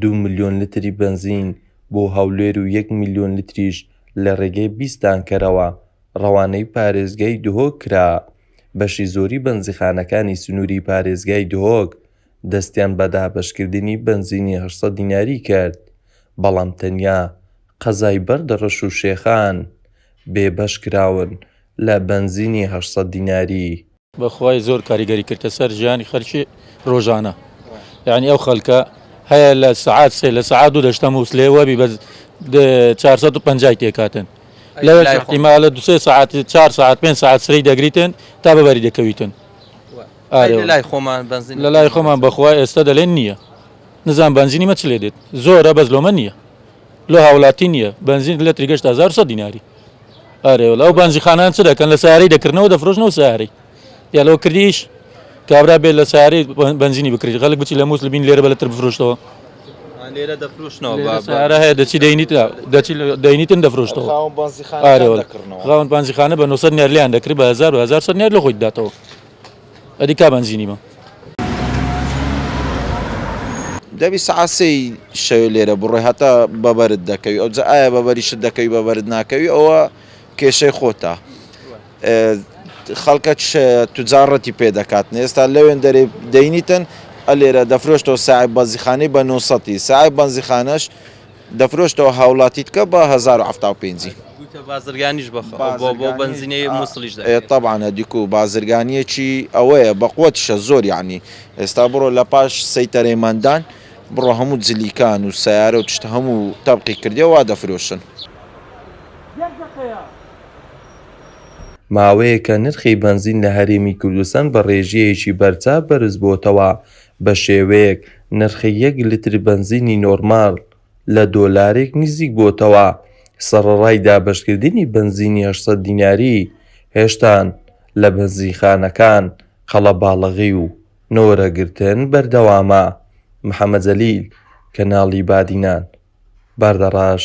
دوو ملیۆن لتری بەنزین بۆ هەولێر و یەک ملیۆن لتریش لە رێگەی بیست تانکەرەوە رەوانەی پارێزگای دهۆک کرا، بەشی زۆری بەنزیخانەکانی سنووری پارێزگای دهۆک دەستیان بە دابەشکردنی بەنزینی هەشت سەد دیناری کرد، بەڵام تەنیا قەزای بەردەڕەش و شێخان بێبەش کراون لە بەنزینی هەشت سەد دیناری. بەخوای زۆر کاریگەری کردە سەر ژیانی خەرکی ڕۆژانە یعنی ئەو خەلکە هەیە لە سعات سێ لە سعات دوو دەشتە مووسلێ وەبی بە 450 تێکاتن لەوێ احتیمالە دوسێ سعات 4 سعات پێ سعات سری دەگریتن تا بەبەری دەکەویتن لای خۆمان بنزین لە لای خۆمان بەخوا ئێستا دەلێن نییە نزان بنزینی مەچ لێ دێت زۆرە بەس لۆمە نییە لۆ هاولاتی نیە بەنزین لەتری گەشتە هەزار سەد دیناری ئارێ وەلا ئەو بەنزیخانان چ دەکەن لە سارەی دەکردنەوە دەفرۆشنەوە سارەی یا لەوە کردیش کابرا بێت لە سارەی بەنزینی بکرێت خەڵک بچی لە مووس لە بین لێرە بە لەتر بفرۆشتەوە لێرە دەفروشنەوە سارە هەیە دەچی دەینیت دەچی دەینیتن دەفرۆشتەوە ئارەوە خاوەن بانزیخانە بە 900 نێرلیان دەکرێت بە 1970 نێر لە خۆی داتەوە ئەدی کا بەنزینی بە. دەبی سەعات سێی شەوێ لێرە بڕۆی هەتا بەبەرت دەکەوی ئەوجا ئایا بەبەریشت دەکەوی بەبەرت ناکەوی ئەوە کێشەی خۆتە خەڵکە توجاڕەتی پێ دەکاتن ئێستا لەوێن دەرێ دەینیتن ئەلێرە دەفرۆشتەوە ساعی بەزیخانەی بە نووسەتی ساعی بەنزیخانەش دەفرۆشتەوە هاوڵاتیت کە بە هەزار و حەفتا و پێنجی. گوتە بازرگانیش بە خۆ بۆ بۆ بەنزینی موسڵیش دەکرێت. ئێ تەبعەن هەدیکو بازرگانیەکی ئەوەیە بە قوەتیشە زۆر یەعنی ئێستا بڕۆ لە پاش سەیتەرەی مەندان بڕۆ هەموو جلیکان و سەیارە و تشت هەموو تەبقی کردیە وا دەفرۆشن. ماوەیەکە نرخی بەنزین لە هەرێمی کوردستان بە ڕێژەیەکی بەرچاو بەرزبووەتەوە بەشێوەیەک نرخی یەک لتر بەنزینی نۆرماڵ لە دۆلارێک نزیک بۆتەوە، سەڕەڕای دابەشکردنی بەنزینی هەشت سەد دیناری، هێشتان لە بەنزینخانەکان قەڵەباڵغی و نۆرە گرتن بەردەوامە. محەمەد جەلیل، کەناڵی بادینان، باردەڕەش.